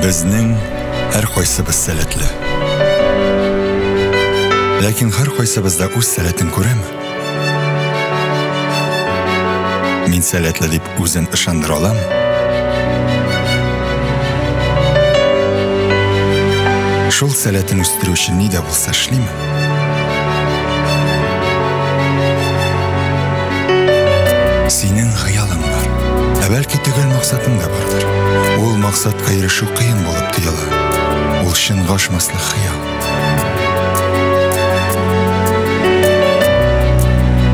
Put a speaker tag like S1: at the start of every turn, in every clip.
S1: Безнең һәркайсыбыз сәләтле. Ләкин һәркайсыбыз да үз сәләтен күрәме? Мин сәләтле дип үзен ышандыра аламы? Шул сәләтен үстерү өчен ни дә булса эшлиме? Синең хыялың бар. Ә бәлки төгәл максатың да бардыр. Ул максатка ирешү кыен булып тоела. Ул чын гашмаслык хыял.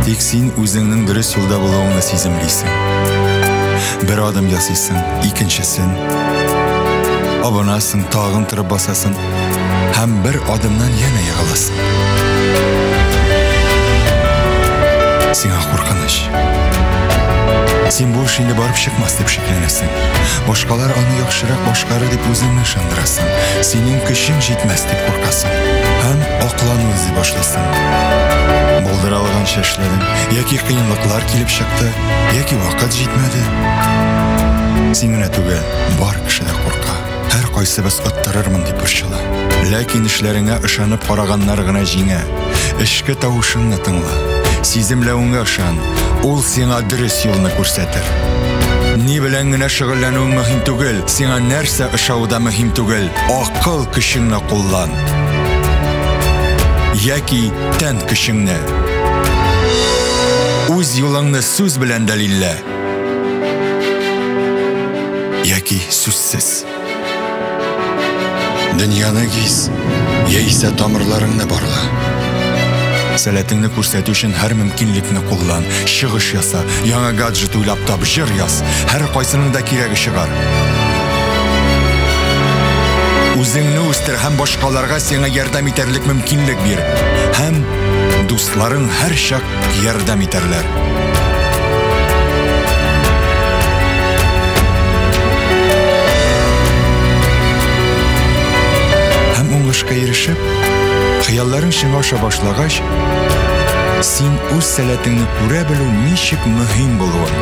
S1: Тик син үзеңнең дөрес юлда булуыңны сиземлисең. Бер адым ясыйсың, икенчесен. Абынасың, тагын торып басасың, Һәм бер адымнан янә егыласың. Сиңа куркыныч. Син бу эш инде барып чыкмас дип шикләнәсең. Башкалар аны яхшырак башкарыр дип үзеңне ышандырасың. Синең көчең җитмәс дип куркасың. Һәм аклану эзли башлыйсың. Булдыра алганча эшләдең. Яки кыенлыклар килеп чыкты, яки вакыт җитмәде. Син генә түгел, бар кеше дә курка. Һәркайсыбыз оттырырмын дип борчыла. Ләкин эшләреңә ышанып караганнар гына җиңә. Эчке тавышыңны тыңла. Сиземләвеңә ышан. Ул сиңа дөрес юлны күрсәтер. Ни белән генә шөгыльләнүең мөһим түгел, сиңа нәрсә ошавы да мөһим түгел. Акыл көчеңне куллан. Яки тән көчеңне. Үз юлыңны сүз белән дәлиллә. Яки сүзсез. Дөньяны гиз, яисә тамырларыңны барла. Сәләтеңне күрсәтү өчен һәр мөмкинлекне куллан, чыгыш яса, яңа гаджет уйлап тап, җыр яз. Һәр кайсының да кирәге чыгар. Үзеңне үстер һәм башкаларга сиңа ярдәм итәрлек мөмкинлек бир. Һәм дусларың һәрчак Ярдәм итәрләр. уңышка ирешеп, хыялларың чынга аша башлагач, син үз сәләтеңне күрә белү ничек мөһим булуын,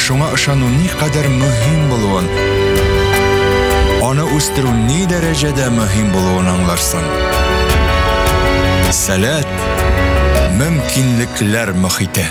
S1: шуңа ышану никадәр мөһим булуын, аны үстерү ни дәрәҗәдә мөһим булуын аңларсың. булсын. Сәләт, мөмкинлекләр мөхите.